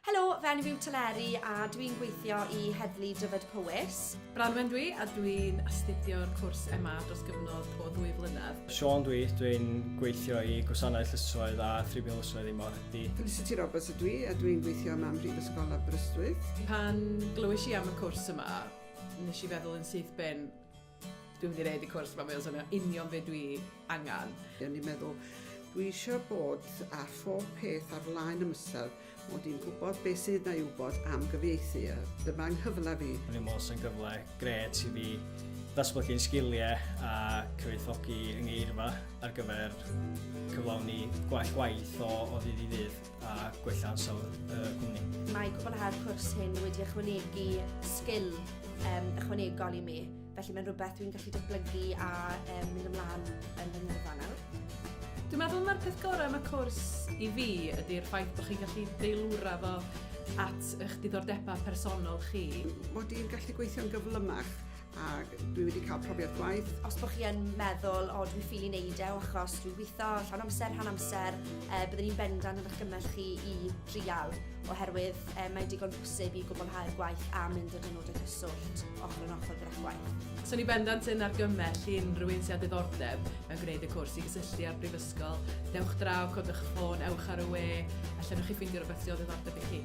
Helo, fy enw yw Teleri a dwi'n gweithio i Heddlu Dyfed-Powys. Branwen dwi a dwi'n astudio'r cwrs MA dros gyfnod o ddwy flynedd. Siôn dwi, dwi'n gweithio i Gwasanaeth Llysoedd a Thribiwn Llysoedd i Morhedi. Felicity Roberts ydw i a dwi'n gweithio yma ym Mhrifysgol Aberystwyth. Pan glywais i am y cwrs yma, nes i feddwl yn syth bin, Dwi wedi neud y cwrs ma, mae o'n swnio union be dwi angan. O'n i'n meddwl, dwi eisiau bod â phob peth ar flaen ymysel, mod i'n gwybod beth sydd 'na i wybod am gyfieithu, a dyma 'nghyfle fi. O'n i'n meddwl 'sa'n gyfle grêt i fi ddatblygu'n sgiliau a cyfoethogi 'y ngeirfa ar gyfer cyflawni gwell gwaith o ddydd i ddydd. a gwella ansawdd y cwmni. Mae cwblhau'r cwrs hyn wedi ychwanegu sgil um, ychwanegol i mi, felly mae'n rhywbeth dwi'n gallu datblygu a um, mynd ymlaen yn fy ngyrfa nawr. Dwi'n meddwl mae'r peth gorau am y cwrs i fi ydy'r ffaith bod chi'n gallu deilwra fo at eich diddordebau personol chi. Mod i'n gallu gweithio'n gyflymach ac dwi wedi cael profiad gwaith. Os bod chi yn meddwl, o dwi'n ffili wneud e o achos dwi'n gweithio llawn amser, rhan amser, e, byddwn i'n bendant yn argymell chi i drial, oherwydd e, mae'n digon posib i gwblhau'r gwaith a mynd yn hynod o gyswllt ochr yn ochr gyda gwaith. So ni bendant yn argymell i unrhyw un sy'n diddordeb mewn gwneud y cwrs i gysylltu â'r Brifysgol. Dewch draw, codwch y ffôn, ewch ar y we, a lle chi ffeindio rhywbeth sy'n o ddiddordeb i chi.